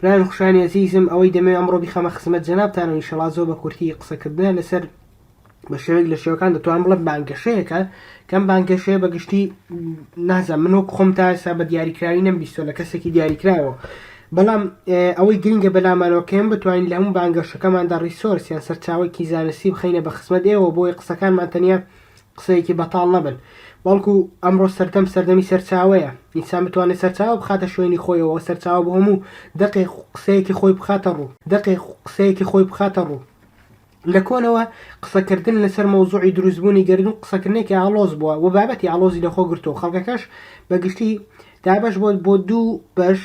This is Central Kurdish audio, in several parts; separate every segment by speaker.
Speaker 1: برایان خوشانی ئەزیزم ئەوەی دەمەوێ ئەمڕۆ بیخەمە خزمەت جەنابتانەوە ئینشەڵا زۆر بە کورتی قسە کردنە لەسەر بە شێوەیەک لە شێوەکان دەتوانم بڵێم بانگەشەیەکە کەم بانگەشەیە بە گشتی نازە من وەک خۆم تا ئێستا بە دیاریکراوی نەم بیستۆ لە کەسێکی دیاریکراوە بەڵام ئەوەی گرنگە بەلامانەوەکەم بتوانین لە هەموو بانگەشەکەماندا ڕیسۆرس یان سەرچاوەکی زانستی بخینە بە خزمەت ئێوە بۆی قسەکانمان تەنیا قسەیەکی بەتاڵ نەبن، بەڵکو ئەمڕۆ سەردەم سەردەمی سەرچاوەیە، ئینسان بتوانێت سەرچاوە بخاتە شوێنی خۆیەوە، سەرچاوە بۆ هەموو دەقێک قسەیەکی خۆی بخاتە ڕوو، دەقێک قسەیەکی خۆی بخاتە ڕوو. لە کۆنەوە قسەکردن لەسەر مەوزوعی دروستبوونی گەردوون قسەکردنێکی ئاڵۆز بووە و بابەتی ئاڵۆزی لەخۆ گرتووە، خەڵکەکەش بە گشتی دابەش بووە بۆ دوو بەش،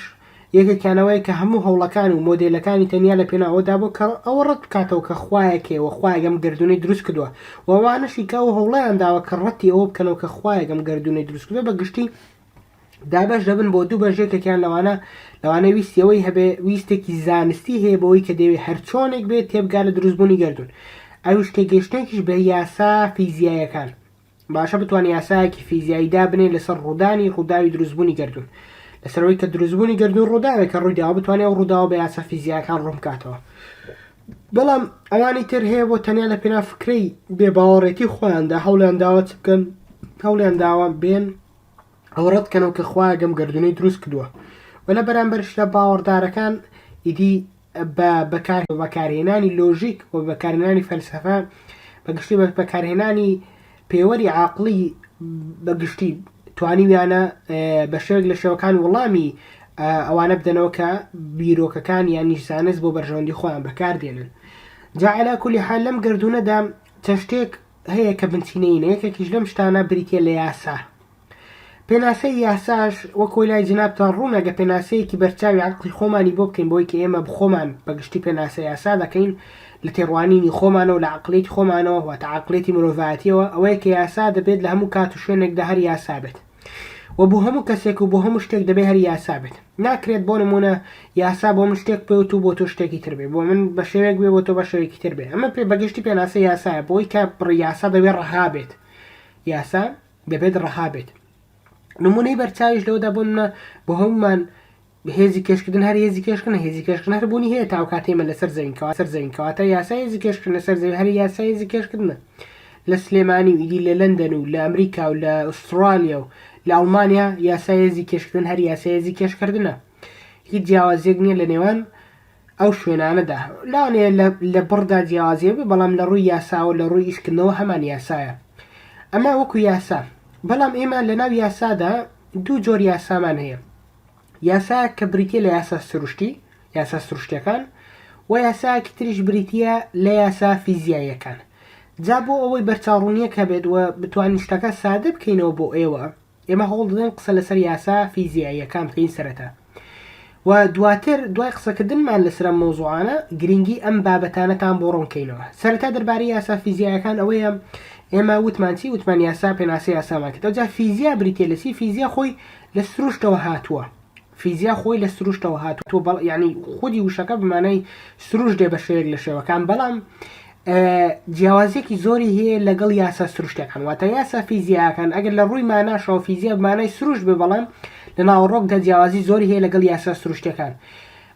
Speaker 1: یەکێکیانەوەیە کە هەموو هەوڵەکان و مۆدێلەکانی تەنیا لە پێناو ئەوەدا بووە کە ئەوە ڕەت بکاتەوە کە خوایەک هەیە و خوایەک ئەم گەردوونەی دروست کردووە و ئەوانەشی کە ئەو هەوڵەیان داوە کە ڕەتی ئەوە بکەنەوە کە خوایەک ئەم گەردوونەی دروست کردووە بە گشتی دابەش دەبن بۆ دوو بەش یەکێکیان لەوانە لەوانەیە ویستی ئەوەی هەبێ ویستێکی زانستی هەیە بەوەی کە دەیەوێت هەرچۆنێک بێت تێبگات لە دروستبوونی گەردوون ئەویش تێگەیشتنێکیش بە یاسا فیزیاییەکان باشە بتوانێت یاسایەکی فیزیایی دابنێت لەسەر ڕوودانی ڕووداوی دروستبوونی گردون لەسەرەوەی کە دروستبوونی گردون ڕووداوێک کە ڕوویداوە بتوانێت ئەو ڕووداوە بە یاسا فیزیاکان ڕوونکاتەوە بەڵام ئەوانی تر هەیە بۆ تەنیا لە پێنا فکرەی بێ باوەڕێتی خۆیاندا هەوڵیان داوە چ بکەن هەوڵیان داوە بێن ئەو ڕەتکەنەوە کە خخوایە گەم گردونەی دروست کردووە و لە بەرامبەرشدا باوەڕدارەکان ئیدی بە بەکارهێنانی لۆژیک و بەکارهێنانی فەلسەفە بە گشتی بە بەکارهێنانی پێوەری عاقڵی بە گشتی توانیویانە بە شێوەک لە شێوەکان وەڵامی ئەوانە بدەنەوە کە بیرۆکەکان یان نیشزانست بۆ بەرژەوەندی خۆیان بەکاردێنن جاعلا کولی حال لەم گردونەدا چەشتێک هەیە کە بنچینەینە یەکێکیش لەم شتانە بریتە لە یاسا پێناسەی یاساش وەک وەی لای جەنابتان ڕوونە گە پێناسەیەکی بەرچاوی عەقڵی خۆمانی بۆ بکەین بەوەی کە ئێمە بخۆمان بە گشتی پێناسە یاسا دەکەین لە تێڕوانینی خۆمانەوە لە عەقڵیەتی خۆمانەوە واتە عەقڵیەتی مرۆڤایەتیەوە ئەوەیە کە یاسا دەبێت لە هەموو کات و شوێنێکدا هەر یاسا بێت و بۆ هەموو کەسێک و بۆ هەموو شتێک دەبێت هەر یاسا بێت ناکرێت بۆ نمونە یاسا بۆ من شتێک پێوت و بۆ تۆ شتێکی تر بێ بۆ من بە شێوێک بێ بۆ تۆ بە شێوێکی تر بێ ئەمە پێ بەگشتی پێناسە یاسایە بۆی کە بڕی یاسا دەبێت ڕەها بێت یاسا دەبێت ڕەها بێت نمونەی بەرچاویش لەوەدا بۆ منە بۆ هەمومان هێزی کێشکردن هەر هێزی کێشکن هێزی کێشکن هەر بوونی هەیە تاو کاتێمە لەسەر زەوینکەوە سەر زەوینکەوە تا یاسا هێزی کێشکن لەسەر زەوی هەر یاسا هێزی کێشکردنە لە سلێمانی و ئیدی لە لەندەن و لە ئەمریکا و لە ئوسترالیا و لە ئەڵمانیا یاسا هێزی کێشکردن هەر یاسا هێزی کێشکردنە هیچ جیاوازیەک نییە لە نێوان ئەو شوێنانەدا لەوانەیە لە لە بڕدا جیاوازی هەبێت، بەڵام لە ڕووی یاساوە و لە ڕووی ئیشکردنەوە هەمان یاسایە. ئەمە وەکو یاسا. بەڵام ئێمە لە ناو یاسادا دوو جۆر یاسامان هەیە. یاسایەک کە بریتییە لە یاسا سروشتی، یاسا سروشتیەکان، و یاسایەکی تریش بریتییە لە یاسا فیزیاییەکان. جا بۆ ئەوەی بەرچاوڕوونییەک هەبێت و بتوانین شتەکە سادە بکەینەوە بۆ ئێوە، ئێمە هەوڵ دەدەین قسە لەسەر یاسا فیزیاییەکان بکەین سەرەتا و دواتر دوای قسەکردنمان لەسەر ئەم مەوزوعانە گرنگی ئەم بابەتانەتان بۆ ڕوون کەینەوە سەرەتا دەربارەی یاسا فیزیایەکان ئەوەیە ئێمە وتمان چی وتمان یاسا پێناسەی یاسامان کرد ئەوجا فیزیا بریتییە لە چی فیزیا خۆی لە سروشتەوە هاتووە فیزیا خۆی لە سروشتەوە هاتووە بەڵ یعنی خودی وشەکە بمانای سروش دێ بە شێوەیەک لە شێوەکان بەڵام جیاوازیەکی زۆری هەیە لەگەڵ یاسا سروشتەکان واتە یاسا فیزیاکان ئەگەر لە ڕووی ماناشەوە فیزیا بمانای سروش بێ بەڵام لە ناوەڕۆکدا جیاوازی زۆری هەیە لەگەڵ یاسا سروشتەکان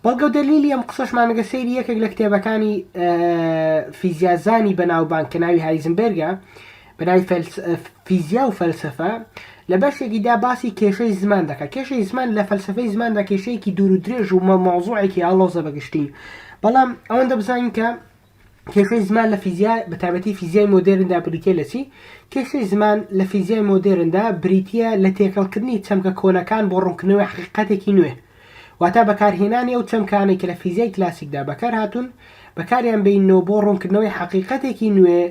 Speaker 1: بەڵگە و دەلیلی ئەم قسەشمانەگە سەیری یەکێک لە کتێبەکانی فیزیازانی بەناوبانگ کە ناوی هایزنبرگە برای فیزیا و فەلسەفە لە بەشێکی دا باسی کێشەی زمان دەکات کێشەی زمان لە فەلسەفەی زماندا کێشەیەکی دوور و درێژ و مەوزوعێکی ئاڵۆزە بەگشتی بەڵام ئەوەندە بزانین کە کێشەی زمان لە فیزیا بە تابەتی فیزیای مۆدێرندا بریتە لە چی کێشەی زمان لە فیزیای مۆدێرندا بریتە لە تێکەڵکردنی چەمکە کۆنەکان بۆ ڕوونکردنەوەی حقیقەتێکی نوێ واتا بەکارهێنانی ئەو چەمکانەی کە لە فیزیای کلاسیکدا بەکارهاتوون، بەکاریان بێیننەوە بۆ ڕوونکردنەوەی حەقیقەتێکی نوێ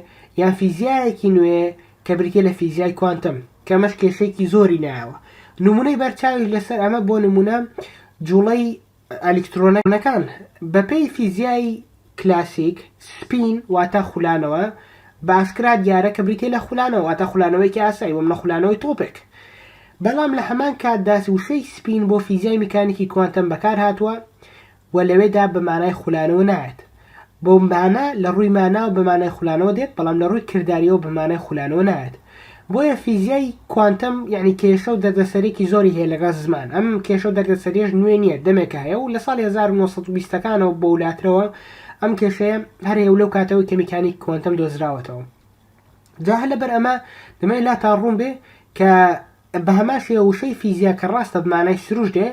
Speaker 1: یان فیزیایەکی نوێ کە بریتییە لە فیزیای کوانتەم، کە ئەمەش کێشەیەکی زۆری نایەوە. نموونەی بەرچاویش لەسەر ئەمە بۆ نموونە جووڵەی ئەلیکترۆنەکان بەپێی فیزیای کلاسیک، سپین، واتە خولانەوە، باسکرا دیارە کە بریتییە لە خولانەوە واتە خولانەوەیەکی ئاسایی وەم نە خولانەوەی تۆپێک. بەڵام لە هەمان کاتدا وشەی سپین بۆ فیزیای میکانیکی کوانتەم بەکار هاتووە و لەوێدا بە مانای خولانەوە نایەت. بۆ مانە لە ڕووی ماناوە بە مانای خولانەوە دێت بەڵام لە ڕووی کردارییەوە بە مانای خولانەوە نایەت. بۆیە فیزیای کوانتەم یەعنی کێشە و دەردەسەرێکی زۆری هەیە لەگەڵ زمان، ئەم کێشە و دەردەسەریەش نوێ نییە دەمێکە هەیە و لە ساڵی هەزار و نۆ سەد و بیست ەکانەوە بەولاترەوە ئەم کێشەیە هەر هەیە و لەو کاتەوەی کە میکانیکی کوانتەم دۆزراوەتەوە جا هەر لەبەر ئەمە دەمەوێت لاتان ڕوون بێ کە بە هەمان شێوە وشەی فیزیا کە ڕاستە بمانای سروشت دێ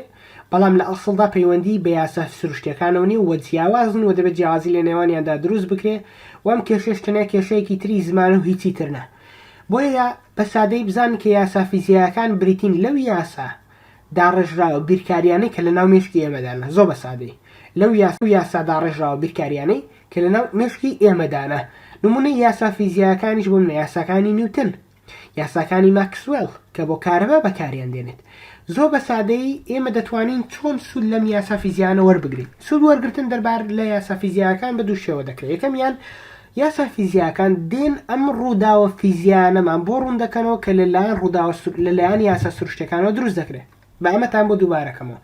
Speaker 1: بەڵام لە ئەسڵدا پەیوەندی بە یاسا سروشتیەکانەوە نیە و جیاوازن و دەبێت جیاوازی لە نێوانیاندا دروست بکرێ و ئەم کێشەش تەنیا کێشەیەکی تری زمانە و هیچی تر نە. بۆیە بە سادەیی بزانن کە یاسا فیزیایەکان بریتین لەو یاسا داڕێژراوە بیرکارییانەی کە لەناو مێشکی ئێمەدانە، زۆر بە سادەیی، لەو یاسا داڕێژراوە بیرکارییانەی کە لەناو مێشکی ئێمەدانە، نموونەی یاسا فیزیایەکانیش بۆ منە یاساکانی نیوتن، یاساکانی ماکسوێڵ کە بۆ کارەبا بەکاریان دێنێت، زۆر بە سادەیی ئێمە دەتوانین چۆن سوود لەم یاسا فیزیایانە وەربگرین؟ سوود وەرگرتن دەربارە لە یاسا فیزیایەکان بە دوو شێوە دەکرێت، یەکەمیان یاسا فیزیاکان دێن ئەم ڕووداوە فیزیایانەمان بۆ ڕوون دەکەنەوە کە لە لایەن ڕووداوە سروو لە لایەن یاسا سروشتیەکانەوە دروست دەکرێ با ئەمەتان بۆ دووبارە کەمەوە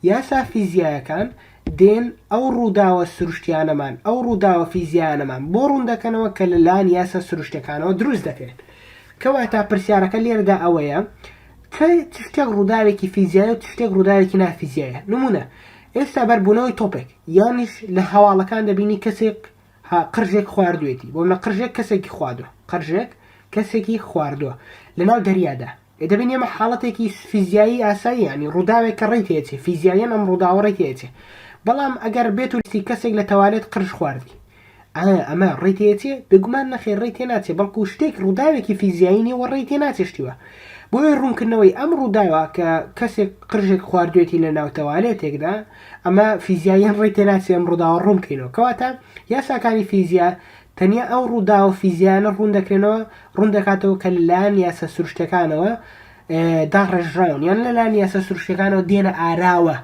Speaker 1: یاسا فیزیایەکان دێن ئەو ڕووداوە سروشتیانەمان ئەو ڕووداوە فیزیایانەمان بۆ ڕوون دەکەنەوە کە لە لایەن یاسا سروشتیەکانەوە دروست دەکرێن کەواتە پرسیارەکە لێرەدا ئەوەیە کە چ شتێک ڕووداوێکی فیزیایە و چ شتێک ڕووداوێکی نافیزیایە نموونە ئێستا بەربوونەوەی تۆپێک یانیش لە هەواڵەکان دەبینی کەسێک ها قرژێک خواردوێتی بۆ منە قرژێک کەسێکی خوادوە قرژێک کەسێکی خواردوە لەناو دەریادا ئێ دەبین ئێمە حاڵەتێکی فیزیایی ئاسایی یانی ڕووداوێک کە ڕێی تێچێ فیزیاییەن ئەم ڕووداوە ڕێی تێچێ بەڵام ئەگەر بێت و لیستی کەسێک لە تەوالێت قرژ خواردی ئایا ئەمە ڕێی تێچێ بێگومان نەخێر ڕێی تێ ناچێ بەڵکو شتێک ڕووداوێکی فیزیایی نیە و ڕێی تێ ناچێ شتی وە بۆیە ڕوونکردنەوەی ئەم ڕووداوە کە کەسێک قرژێک خواردوێتی لە ناو تەوالێتێکدا ئەمە فیزیاییان ڕێی تێناچێ ئەم ڕووداوە ڕوون بکەینەوە. کەواتە یاساکانی فیزیا تەنیا ئەو ڕووداوە فیزیایانە ڕوون دەکرێنەوە، ڕوون دەکاتەوە کە لەلایەن یاسا سروشتیەکانەوە داڕێژراون یان لەلایەن یاسا سروشتیەکانەوە دێنە ئاراوە.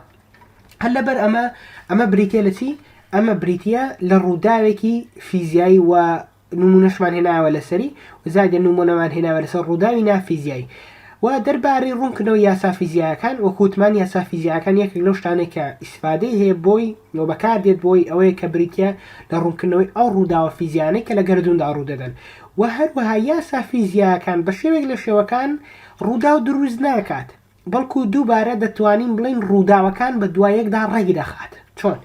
Speaker 1: هەر لەبەر ئەمە ئەمە بریتە لە چی؟ ئەمە بریتە لە ڕووداوێکی فیزیایی و نموونەشمان هێناوە لەسەری و زیادێ نموونەمان هێناوە لەسەر ڕووداوی نا فیزیایی و دەربارەی ڕوونکردنەوەی یاسا فیزیایەکان وەکو وتمان یاسا فیزیایەکان یەکێک لەو شتانەی کە ئیسفادەی هەیە بۆی و بەکاردێت بۆی ئەوەیە کە بریتیە لە ڕوونکردنەوەی ئەو ڕووداوە فیزیانەی کە لە گەردووندا ڕوودەدەن و هەروەها یاسا فیزیایەکان بە شێوەیەک لە شێوەکان ڕووداو دروست ناکات بەڵکو دووبارە دەتوانین بڵێین ڕووداوەکان بە دوایەکدا ڕێک دەخات. چۆن؟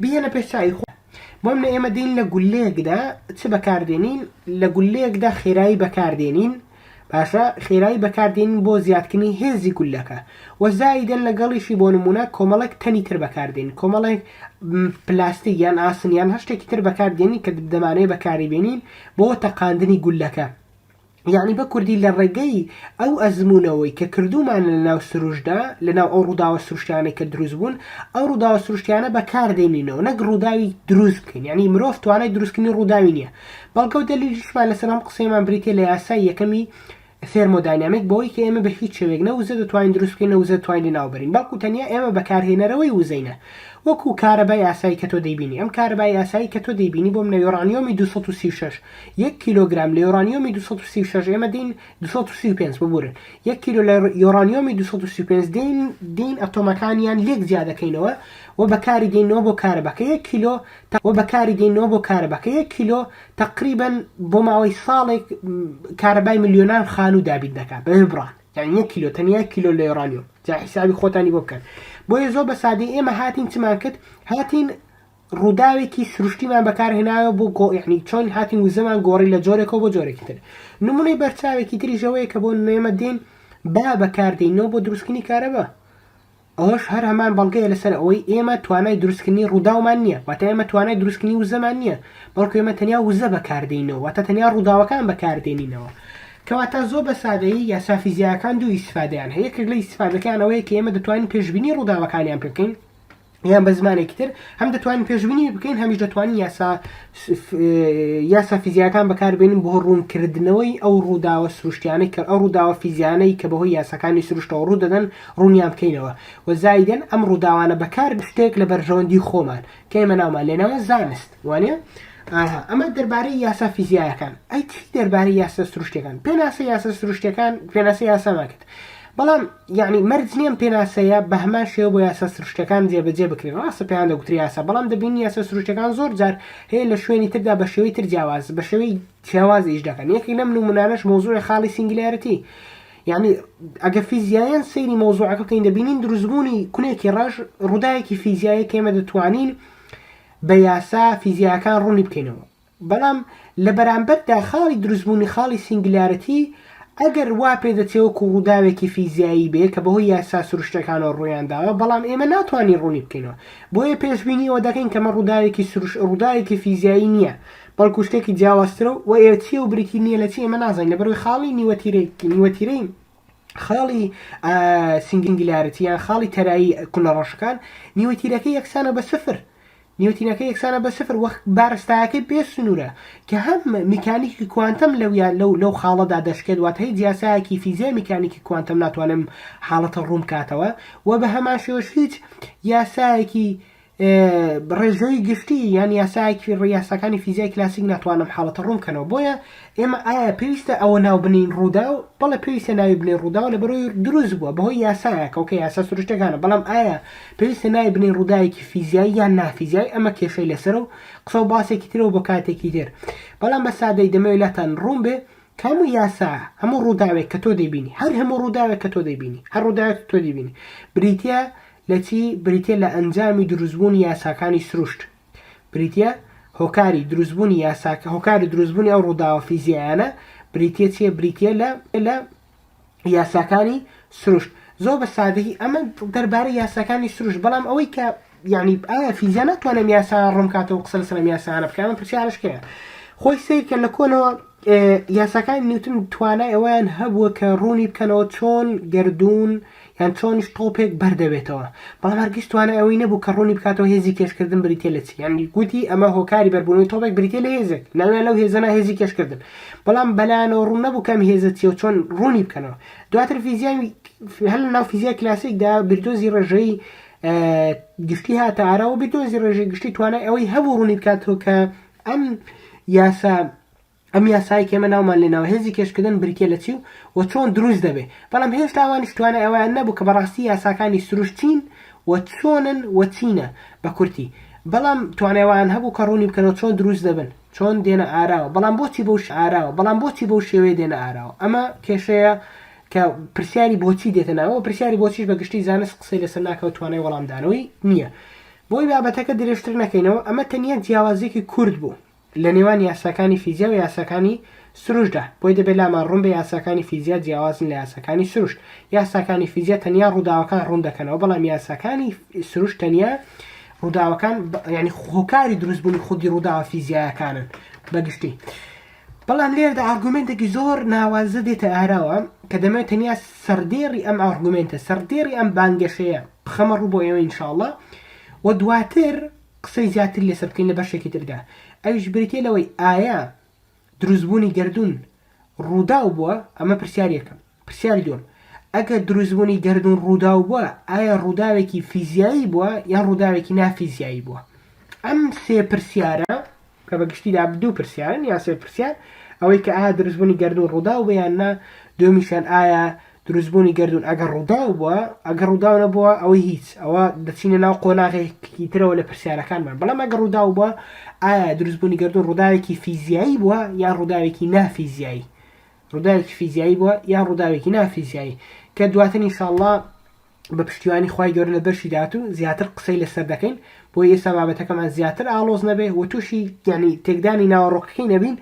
Speaker 1: بیهێنە پێش چاوی خۆت. بۆمنە ئێمە دێین لە گوللەیەکدا چ بەکاردێنین؟ لە گوللەیەکدا خێرایی بەکاردێنین، باشە؟ خێرایی بەکاردێنین بۆ زیادکردنی هێزی گوللەکە. وە زائیدەن لەگەڵیشی بۆ نموونە کۆمەڵێک تەنی تر بەکاردێنین، کۆمەڵێک پلاستیک یان ئاسن یان هەر شتێکی تر بەکاردێنین کە دەمانەوێت بەکاریبێنین بۆ تەقاندنی گوللەکە. یەعنی بە کوردی لە ڕێگەی ئەو ئەزموونەوەی کە کردوومانە لە ناو سروشتدا، لە ناو ئەو ڕووداوە سروشتیانەی کە دروست بوون، ئەو ڕووداوە سروشتیانە بە کار دێنینەوە، نەک ڕووداوی دروست بکەین، یەعنی مرۆڤ توانای دروستکردنی ڕووداوی نییە. بەڵگە و دەلیلیشمان لەسەر ئەم قسەیەمان بریتییە لە یاسای یەکەمی ثێرمۆداینامیک بەوەی کە ئێمە بە هیچ شێوەیەک نە وزە دەتوانین دروست بکەین نە وزە دەتوانین لە ناو بەرین بەڵکوو تەنیا ئێمە بەکارهێنەرەوەی وزەینە وەکوو کارەبای ئاسایی کە تۆ دەیبینی ئەم کارەبای ئاسایی کە تۆ دەیبینی بۆ منە یۆرانیۆمی دوو سەد و سی و شەش یەک کیلۆگرام لە یۆرانیۆمی دوو سەد و سی و شەش ئێمە دێین دوو سەد و سی و پێنج ببورن یەک کیلۆ لە یۆرانیۆمی دوو سەد و سی و پێنج دێین دێین ئەتۆمەکانیان لێک جیا دەکەینەوە و بەکاری دێنەوە بۆ کارەباکە یەک کیلۆ تە و بەکاری دێنەوە بۆ کارەباکە یەک کیلۆ تەقریبەن بۆ ماوەی ساڵێک کارەبای ملیۆنان خانوو دابین دەکات بە بڕان یان یەک کیلۆ تەنیا یەک کیلۆ لە یۆرانیۆم جا حیسابی خۆتانی بۆ بکەن بۆیە زۆر بە سادەی ئێمە هاتین چمان کرد هاتین ڕووداوێکی سروشتیمان بەکارهێناوە بۆ گۆ یەعنی چۆن هاتین وزەمان گۆڕی لە جۆرێکەوە بۆ جۆرێکی تر نموونەی بەرچاوێکی تریش ئەوەیە کە بۆ نمێمە دێین با بەکاردێینەوە بۆ دروستکردنی کارەبا ئەوەش هەر هەمان بەڵگەیە لەسەر ئەوەی ئێمە توانای دروستکردنی ڕووداومان نییە واتە ئێمە توانای دروستکردنی وزەمان نییە بەڵکو ئێمە تەنیا وزە بەکاردێینەوە واتە تەنیا ڕووداوەکان بەکاردێنینەوە کەواتە زۆر بە سادەیی یاسا فیزیایەکان دوو ئیسفادەیان هەیە یەکێک لە ئیسفادەکان ئەوەیە کە ئێمە دەتوانین پێشبینی ڕووداوەکانیان پێ بکەین یان بە زمانێکی تر هەم دەتوانین پێشبینی بکەین هەمیش دەتوانین یاسا یاسا فیزیاکان بەکاربێنین بۆ ڕوونکردنەوەی ئەو ڕووداوە سروشتیانەی کە ئەو ڕووداوە فیزیانەی کە بەهۆی یاساکانی سروشتەوە ڕوو دەدەن ڕوونیان بکەینەوە و زایدن ئەم ڕووداوانە بەکار شتێک لە بەرژەوەندی خۆمان کە ئێمە ناومان لێناوە زانست وانە ئەمە دەربارەی یاسا فیزیایەکان ئەی چی دەربارەی یاسا سروشتەکان پێناسە یاسا سروشتەکان پێناسە یاسامان کرد بەڵام یەعنی مەرج نییە ئەم پێناسەیە بە هەمان شێوە بۆ یاسا سروشتییەکان جێبەجێ بکرێت، ڕاستە پێیان دەگوترێت یاسا، بەڵام دەبینین یاسا سروشتییەکان زۆر جار هەیە لە شوێنی تردا بە شێوەی تر جیاواز بە شێوەی جیاواز ئیش دەکەن، یەکێک لەم نموونانەش مەوزووعی خاڵی سینگلیارتی یەعنی ئەگەر فیزیاییان سەیری مەوزووعەکە بکەین دەبینین دروستبوونی کونێکی ڕەش ڕووداوێکی فیزیاییە کە ئێمە دەتوانین بە یاسا فیزیاییەکان ڕوونی بکەینەوە، بەڵام لە بەرامبەردا خاڵی دروستبوونی خاڵی سینگلیارەتی ئەگەر وا پێدەچێ وەکوو ڕووداوێکی فیزیایی بێ کە بەهۆی یاسا سروشتییەکانەوە ڕوویان داوە، بەڵام ئێمە ناتوانین ڕوونی بکەینەوە. بۆیە پێشبینی ئەوە دەکەین کە مە ڕووداوێکی سروش ڕووداوێکی فیزیایی نییە، بەڵکوو شتێکی جیاوازترە و ئێ چییە و بریتی نییە لە چی ئێمە نازانین لەبەر ئەوەی خاڵی نیوەتیرەی نیوەتیرەی خاڵی سینگلیارەتی یان خاڵی تەرایی کونە ڕەشەکان نیوەتیرەکەی یەکسانە بە سفر نیوتینەکە یەکسانە بە سفر وەک بارستایەکەی بێ سنوورە کە هەم میکانیکی کوانتەم لەو یا لەو لەو خاڵەدا دەشکێت واتە هیچ یاسایەکی فیزیای میکانیکی کوانتەم ناتوانێت ئەم حاڵەتە ڕوون بکاتەوە و بە هەمان شێوەش هیچ یاسایەکی ڕێژەیی گشتی یان یاسایەکی ڕ یاساکانی فیزیای کلاسیک ناتوانن ئەم حاڵەتە ڕوون بکەنەوە بۆیە ئێمە ئایا پێویستە ئەوە ناو بنێین ڕووداو؟ بەڵێ پێویستە ناوی بنێین ڕووداو لەبەرەوەی دروست بووە بەهۆی یاسایە کەوکە یاسا سروشتەکانە بەڵام ئایا پێویستە ناوی بنێین ڕووداوێکی فیزیایی یان نافیزیایی ئەمە کێشەی لەسەرە و قسە و باسێکی ترە و بۆ کاتێکی تر بەڵام بە سادەی دەمەوێت لاتان ڕوون بێ کە هەموو یاسا هەموو ڕووداوێک کە تۆ دەیبینی هەر هەموو ڕووداوێک کە تۆ دەیبینی هەر ڕووداوێک تۆ دەیبینی بریتییە لە چی بریتییە لە ئەنجامی دروستبوونی یاساکانی سروشت بریتیە هۆکاری دروستبوونی یاساکە هۆکاری دروستبوونی ئەو ڕووداوە فیزیایانە بریتە چیە بریتە لە لە یاساکانی سروشت زۆر بە سادەی ئەمە دەربارەی یاساکانی سروشت بەڵام ئەوەی کە یعنی ئایا فیزیا ناتوانم یاسا ڕوومکاتەوە قسە لەسەر یاسانە بکەم پرسیارشکەیە خۆی سیرکە لە کۆنەوە یاساکانی نیوتن توانای ئەوەیان هەبووە کە ڕوونی بکەنەوە چۆن گەردوون یان چۆنیش تۆپێک بەر دەبێتەوە، بەڵام هەرگیز توانای ئەوەی نەبوو کە ڕوونی بکاتەوە هێزی کێشکردن بریتییە لە چی، یانی گوتی ئەمە هۆکاری بەربوونەوەی تۆپێک بریتییە لە هێزێک، ناویان لەو هێزە نا هێزی کێشکردن، بەڵام بەلایانەوە ڕوون نەبوو کە ئەم هێزە چییە و چۆن ڕوونی بکەنەوە. دواتر فیزیای هەر لە ناو فیزیای کلاسیکدا بیردۆزی ڕێژەیی گشتی هاتە ئارا و بیردۆزی ڕێژەیی گشتی توانای ئەوەی هەبوو ڕوونی بکاتەوە کە ئەم یاسا ئەم یاسایەی کە ئێمە ناومان لێ ناوە هێزی کێشکردن بریتییە لە چی و و چۆن دروست دەبێ، بەڵام هێشتا ئەوانیش توانای ئەوەیان نەبوو کە بەڕاستی یاساکانی سروشت چین و چۆنن و چینە بە کورتی، بەڵام توانای ئەوەیان هەبوو کە ڕوونی بکەنەوە چۆن دروست دەبن، چۆن دێنە ئاراوە، بەڵام بۆچی بەو ئاراوە، بەڵام بۆچی بەو شێوەیە دێنە ئاراوە؟ ئەمە کێشەیە کە پرسیاری بۆچی دێتە ناوەوە، پرسیاری بۆچیش بە گشتی زانست قسەی لەسەر ناکا و توانای وەڵامدانەوەی نییە. بۆی بابەتەکە درێژتر نەکەینەوە، ئەمە تەنیا جیاوازییەکی کورت بوو لە نێوان یاساکانی فیزیا و یاساکانی سروشتدا، بۆی دەبێت لامان ڕوون بێت یاساکانی فیزیا جیاوازن لە یاساکانی سروشت، یاساکانی فیزیا تەنیا ڕووداوەکان ڕوون دەکەنەوە، بەڵام یاساکانی سروشت تەنیا ڕووداوەکان، یانی هۆکاری دروستبوونی خودی ڕووداوە فیزیایەکانن بە گشتی. بەڵام لێرەدا ئارگومێنتێکی زۆر ناوازە دێتە ئاراوە، کە دەمەوێت تەنیا سەڕدێڕی ئەم ئارگومێنتە، سەڕدێڕی ئەم بانگەشەیە، بخەمە ڕوو بۆ ئێوە ان شاء اللە و دواتر قسەی زیاتر لەسەر بکەین لە بەشێکی تردا ئەویش بریتیە لەوەی ئایا دروستبوونی گردون ڕووداو بووە ئەمە پرسیارەکەم پرسیاری دوم ئەگەر دروستبوونی گردون ڕووداو بووە ئایا ڕووداوێکی فیزیایی بووە یان ڕووداوێکی نافیزیایی بووە ئەم سێ پرسیارە کە بە گشتیدا دوو پرسیارن یان سێ پرسیار، ئەوەی کە ئایا دروستبوونی گەردوون ڕووداو بوو یان نا، دووەمیشیان ئایا دروستبوونی گەردوون ئەگەر ڕووداو بووە، ئەگەر ڕووداو نەبووە ئەوەی هیچ، ئەوە دەچینە ناو قۆناغێکی ترەوە لە پرسیارەکانمان، بەڵام ئەگەر ڕووداو بووە ئایا دروستبوونی گەردوون ڕووداوێکی فیزیایی بووە یان ڕووداوێکی نا فیزیایی، ڕووداوێکی فیزیایی بووە یان ڕووداوێکی نا فیزیایی، کە دواتر ان شاء اللە بە پشتیوانی خوای گەورە لە بەشی داهاتوو زیاتر قسەی لەسەر دەکەین بۆیە ئێستا بابەتەکەمان زیاتر ئاڵۆز نەبێ و تووشی یانی تێکدانی ناوەڕۆکەکەی نەبین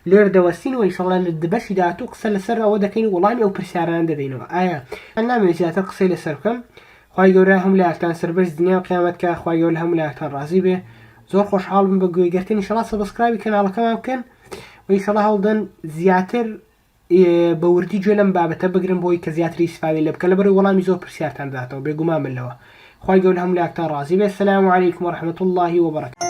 Speaker 1: لێرە دەوەستین و ئینشەڵا لە بەشی داهاتوو قسە لەسەر ئەوە دەکەین وەڵامی ئەو پرسیارانە دەدەینەوە ئایا ئەن نامەوێت زیاتر قسەی لەسەر بکەم خوای گەورە هەموو لایەکتان سەربەرز دنیا و قیامەت کا خوای گەورە لە هەموو لایەکتان ڕازی بێ زۆر خۆشحاڵ بم بە گوێگرتن ئینشەڵا سەبسکرایبی کەناڵەکەمان بکەن و ئینشەڵا هەوڵدەن زیاتر بە وردی گوێ لەم بابەتە بگرن بۆی کە زیاتری سپاوی لێ بکەن لەبەرەوەی وەڵامی زۆر پرسیارتان دەداتەوە بێگومان بن لەوە خوای گەورە هەموو لایەکتان ڕازی بێت سلام علیکم و رحمت اللە و بەڕەکاته.